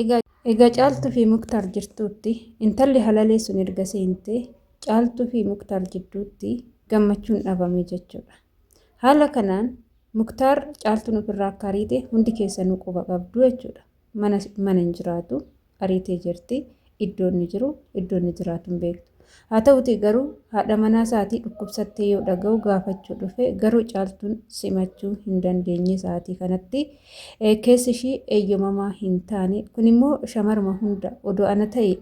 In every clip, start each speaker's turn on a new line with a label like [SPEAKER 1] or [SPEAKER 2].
[SPEAKER 1] Egaa Egaa caaltu fi muktaar jirtuutti intalli halalee sun erga seente caaltu fi muktaar jidduutti gammachuun dhabame jechuudha haala kanaan muktaar caaltuun ofirraa akka ariite hundi keessanuu quba qabdu jechuudha mana mana hin jiraatu ariitee jirti iddoo inni jiru, iddoo inni jiraatu hin beektu. Haa ta'uutii garuu haadha manaa isaatii dhukkubsattee yoo dhaga'u gaafachuu dhufe garuu caaltuun simachuu hin dandeenye sa'aatii kanatti keessi ishii eeyyamamaa hin taane kun immoo shamaruma hunda odoo ana ta'e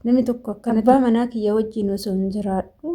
[SPEAKER 1] namni tokko akkana abbaa manaa kiyya wajjin osoo hin jiraadhu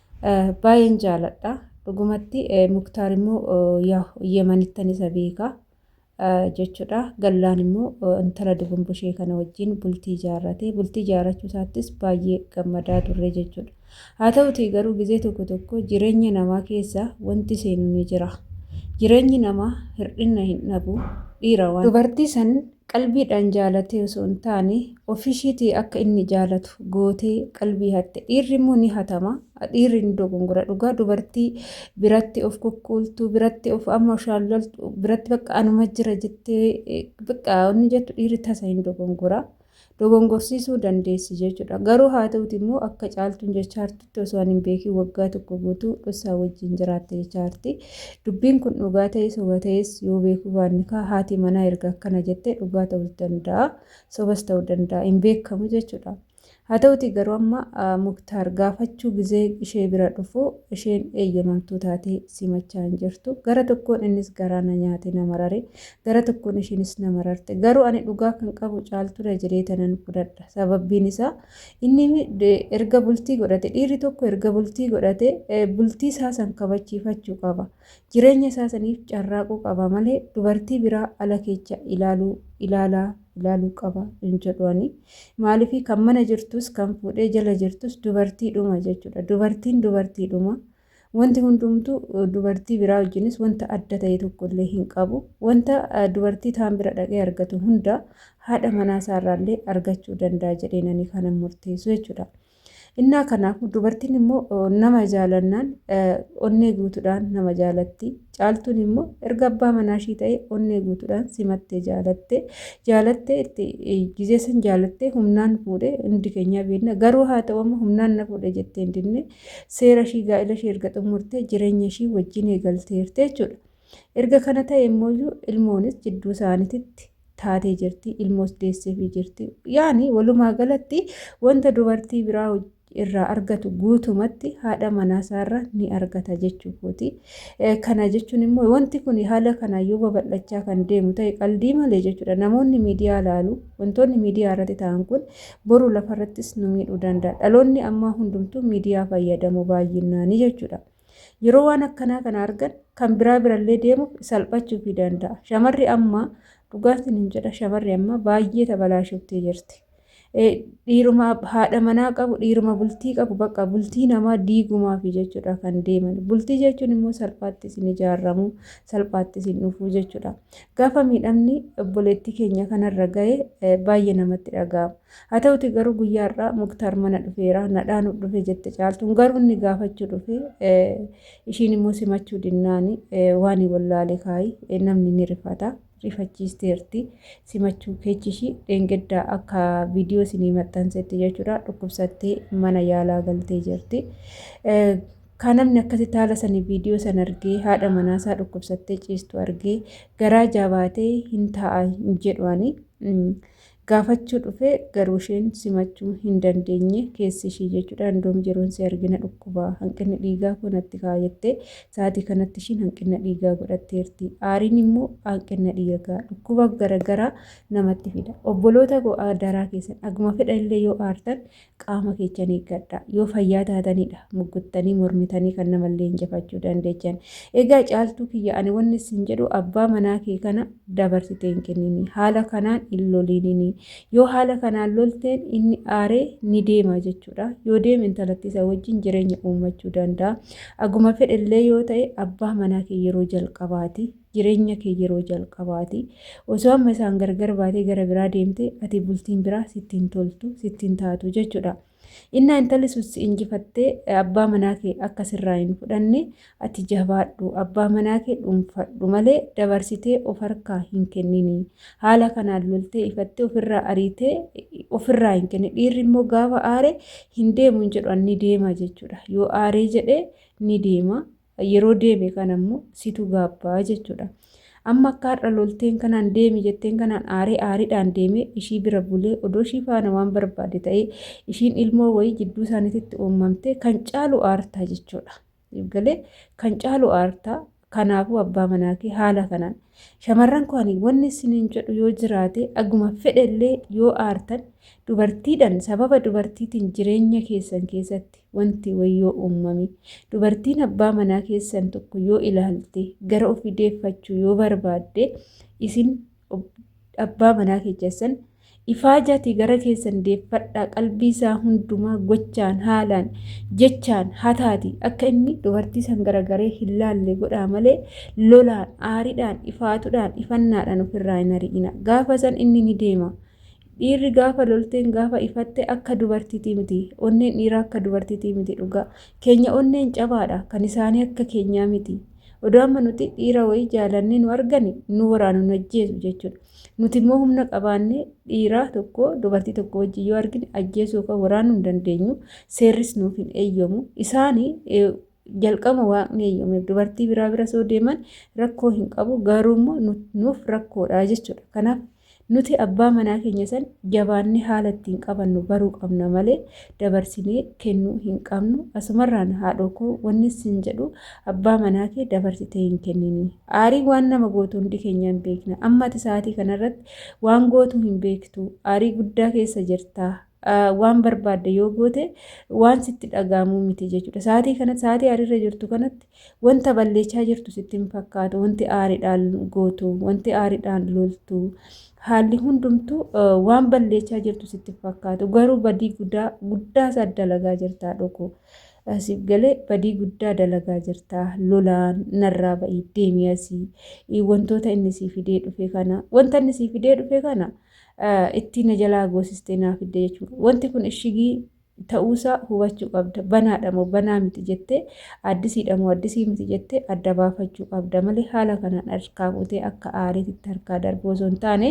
[SPEAKER 1] Baay'een jaaladha. Dhugumatti Muktaar immoo yaa Yemanittan isa beeka jechuudha. Gallaan immoo intala dubumbushee kana wajjin bultii ijaarrate. Bultii ijaarrachuu isaattis baay'ee gammadaa turre jechuudha. Haa ta'utii garuu gizee tokko tokko jireenya namaa keessa wanti seenu ni jira. Jireenyi namaa hir'inna hin dhabu dhiira waan. Dubartii san Qalbiidhaan jaalatee osoo hin taane ofiishiitii akka inni jaalatu gootee qalbii hatte. Dhiirri immoo ni hatama. Dhiirri ni dogongora dhugaa dubartii biratti of kukkuultu biratti of amma shaallaltu biratti bakka anuma jira jettee bakka inni jettu dhiirri tasa hin dogongora. dogongorsiisuu dandeessi jechuudha. Garuu haa ta'uti immoo akka caaltuun jechaa jirtutti osoo ani hin beekin waggaa tokko guutuu dhossaa wajjin jiraatte jechaa jirti. Dubbiin kun dhugaa ta'ee soba ta'es yoo beekuu baanne kaa haati manaa erga akkana jettee dhugaa ta'us danda'a sobas ta'uu danda'a hin beekamu jechuudha. Haa ta'uti garuu amma Muktaar gaafachuu gizee ishee bira dhufu isheen eeyyamamtuu taatee simachaa hin jirtu. Gara tokkoon innis garaa na nyaate na marare. Gara tokkoon ishiinis na mararte. Garuu ani dhugaa kan qabu caaltuudha jedhee tanan fudhadha. Sababbiin isaa inni erga bultii godhate dhiirri tokko erga bultii godhate bultii isaa san kabachiifachuu qaba. Jireenya isaa saniif carraaquu qaba malee dubartii biraa ala keecha ilaaluu ilaalaa ilaaluu qaba hin jedhu ani. Maaliif kan mana jirtus kan fuudhee jala jirtus dubartiidhuma jechuudha. Dubartiin dubartiidhuma. Wanti hundumtu dubartii biraa wajjinis wanta adda ta'e tokko illee hin qabu. Wanta dubartii taan bira dhaqee argatu hunda haadha manaa isaa irraa illee argachuu danda'a jedhee nani kanan murteessu jechuudha. Innaa kanaaf dubartiin immoo nama jaalannaan onnee guutuudhaan nama jaalatti. Caaltuun immoo erga abbaa manaa ishii ta'e onnee guutuudhaan simattee jaalatte. Jaalattee itti gizee san jaalattee humnaan fuudhe hundi keenyaa beekna. Garuu haa ta'u amma humnaan na fuudhe jettee hin dinne. Seera ishii gaa'ila ishii erga xumurtee jireenya ishii wajjin eegalteerti jechuudha. Erga kana ta'e immoo ilmoonis jidduu isaaniititti taatee jirti. Ilmoos deesseefii jirti. Yaani walumaa galatti wanta dubartii biraa irraa argatu guutumatti haadha manaa isaarra ni argata jechuu kooti. Kana jechuun immoo wanti kun haala kanaa yoo babal'achaa kan deemu ta'e qaldii malee jechuudha. Namoonni miidiyaa laalu wantoonni miidiyaa irratti ta'an kun boru lafarrattis nu miidhuu danda'a. Dhaloonni ammaa hundumtuu miidiyaa fayyadamu baay'innaanii jechuudha. Yeroo waan akkanaa kana argan kan biraa birallee deemuuf salphachuufii danda'a. Shamarri ammaa dhugaatiin hin jedha shamarri ammaa baay'ee tabalaashoftee jirti. Dhiiruma haadha manaa qabu dhiiruma bultii qabu bakka bultii namaa diigumaafi jechuudha kan deeman. Bultii jechuun immoo salphaatti isin ijaaramu salphaatti isin dhufuu jechuudha. Gaafa miidhamni obboleettii keenya kanarra gahe baay'ee namatti dhaga'ama. Haa ta'uti garuu guyyaa har'aa Muktaar mana dhufeera nadhaanuuf dhufe jette caaltuun garuu inni gaafachuu dhufe ishiin immoo simachuu dinnaani waan wallaale kaayi namni ni rifata. rifachiisteerti simachuu keechi ishii dheengaddaa akka viidiyoo isinii maxxansetti jechuudha dhukkubsattee mana yaalaa galtee jirti. Kaa namni akkasitti haala sani viidiyoo san argee haadha manaasaa dhukkubsattee ciistu argee garaa jaabaatee hin taa'a hin jedhu ani gaafachuu dhufee garuu isheen simachuu hin dandeenye keessi ishii jechuudha indoom yeroon si argina dhukkubaa hanqinni dhiigaa koo natti ka'a jettee sa'aatii kanatti ishiin hanqinna dhiigaa godhatteerti aariin immoo hanqinna dhiigaa dhukkuba garagaraa namatti fida obboloota koo daraa keessan aguma fedha illee yoo aartan Qaama keechan eeggadhaa. Yoo fayyaa taatanidha mugguttanii mormitanii kan namallee injifachuu dandeechan. Egaa Caaltuu kiyya ani wanni sin jedhu abbaa manaa kee kana dabarsitee hin kenninii. Haala kanaan hin loliininii. Yoo haala kanaan lolteen inni aaree ni deema jechuudha. Yoo deeme intalattii san wajjin jireenya uummachuu danda'a. Aguma fedhellee yoo ta'e abbaa manaa kee yeroo jalqabaati. jireenya kee yeroo jalqabaati. Osoo amma isaan gargar baatee gara biraa deemte ati bultiin biraa sitti hin toltu, sitti hin taatu jechuudha. Innaa intalli sun si injifattee abbaa manaa kee akka sirraa hin fudhanne ati jabaadhu abbaa manaa kee dhuunfadhu malee dabarsitee of harkaa hin kennini. Haala kanaan loltee ifattee ofirraa ariitee ofirraa hin kenne. Dhiirri immoo gaafa aare hin deemu hin jedhu ni deema jechuudha. Yoo aaree jedhee ni deema. Yeroo deeme kana immoo situ gaabbaa jechuudha. Amma akka har'a lolteen kanaan deemi jetteen kanaan aaree aariidhaan deemee ishii bira bulee odoo ishii faana waan barbaade ta'ee ishiin ilmoo wayii jidduu isaaniititti uumamtee kan caalu aartaa jechuudha. Galee kan caalu aartaa kanaafuu abbaa manaa kee haala kanaan shamarran koo ani wanni isiniin jedhu yoo jiraate aguma fedhellee yoo aartan dubartiidhaan sababa dubartiitiin jireenya keessan keessatti Wanti wayyoo uummame. Dubartiin abbaa manaa keessan tokko yoo ilaalte gara ofii deeffachuu yoo barbaadde isin abbaa manaa keessan ifaajaatii gara keessan deeffadhaa qalbii isaa hundumaa gochaan haalaan jechaan hataati akka inni dubartii san garagaree hin laalle godhaa malee lolaan aaridhaan ifaatudhaan ifannaadhaan ofirraa hin ari'ina gaafa san inni ni deema. Dhiirri gaafa lolteen gaafa ifatte akka dubartiitii miti. Onneen dhiiraa akka dubartiitii miti dhugaa. Keenya onneen cabaadha. Kan isaanii akka keenyaa miti. Odoo amma nuti dhiira wayii jaalannee nu argani nu waraanu nu ajjeesu jechuudha. Nuti immoo humna qabaannee dhiiraa tokko dubartii tokko wajjin yoo argine ajjeesuu yookaan waraanuu hin dandeenyu. Seerris nuuf hin eeyyamu. Isaani jalqabuma waaqni eeyyameef dubartii biraa bira soo deeman rakkoo hin qabu garuu immoo nuuf rakkoodha jechuudha. Kanaaf nuti abbaa manaa keenya san jabaannee haala ittiin qabannu baruu qabna malee dabarsinee kennuu hin qabnu. Asumarraan haadhoo koo wanni sin jedhu abbaa manaa kee dabarsitee hin kennini. Aarii waan nama gootu hundi keenya hin beekna. Amma ati sa'aatii kanarratti waan gootu hin beektu. Aarii guddaa keessa jirta. waan barbaadde yoo goote waan sitti dhaga'amuu miti jechuudha. Sa'aatii kanatti sa'aatii aariirra jirtu kanatti wanta balleechaa jirtu sitti hin fakkaatu. Wanti aariidhaan gootu, wanti aariidhaan loltu, haalli hundumtuu waan balleechaa jirtu sitti hin fakkaatu. Garuu badii guddaa guddaa isaa dalagaa jirtaa dhokoo. Siif galee badii guddaa dalagaa jirtaa lolaan narraa ba'ii deemii asii wantoota inni sii fidee dhufe kana wanta inni sii fidee dhufe kana. ittiin na jalaa goosistee naa fidde jechuudha. Wanti kun ishigii ta'uusaa hubachuu qabda. Banaadha moo banaa miti jettee addisiidha moo addisii miti jettee adda baafachuu qabda malee haala kanaan harkaa fuutee akka aariititti harkaa darbuu osoo hin taane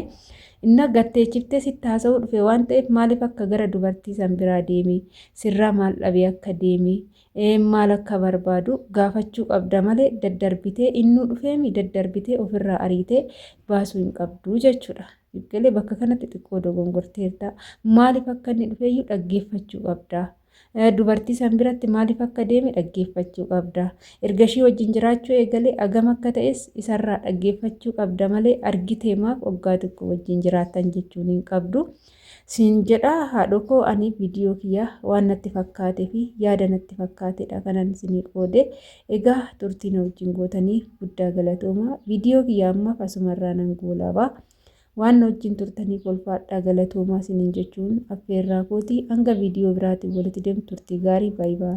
[SPEAKER 1] inna gatteechiftee sitti haasa'uu dhufe waan ta'eef maaliif akka gara dubartii san biraa deemee sirraa maal dhabee akka deemee Eem maal akka barbaadu gaafachuu qabda malee daddarbitee innuu dhufeemi daddarbitee ofirraa ariitee baasuu hin qabdu jechuudha. Galee bakka kanatti xiqqoo dogongorteerta. Maaliif akka inni dhufeeyyuu dhaggeeffachuu qabda. Dubartii san biratti maaliif akka deeme dhaggeeffachuu qabda. Erga ishii wajjin jiraachuu eegalee agam akka ta'es isarraa dhaggeeffachuu qabda malee argitee maaf oggaa xiqqoo wajjin jiraattan jechuun hin qabdu. Siin jedhaa haadhokoo ani video kiyya waan natti fakkaate fi yaada natti fakkaatedha kanan isinii qoode egaa turtii na wajjin gootaniif guddaa galatooma video kiyya ammaaf asumarraa nan goolaba waan na wajjin turtaniif ulfaadhaa galatoomaa isiniin jechuun affeerraa kooti hanga video biraatiin walitti deemnu turtii gaarii baay'ee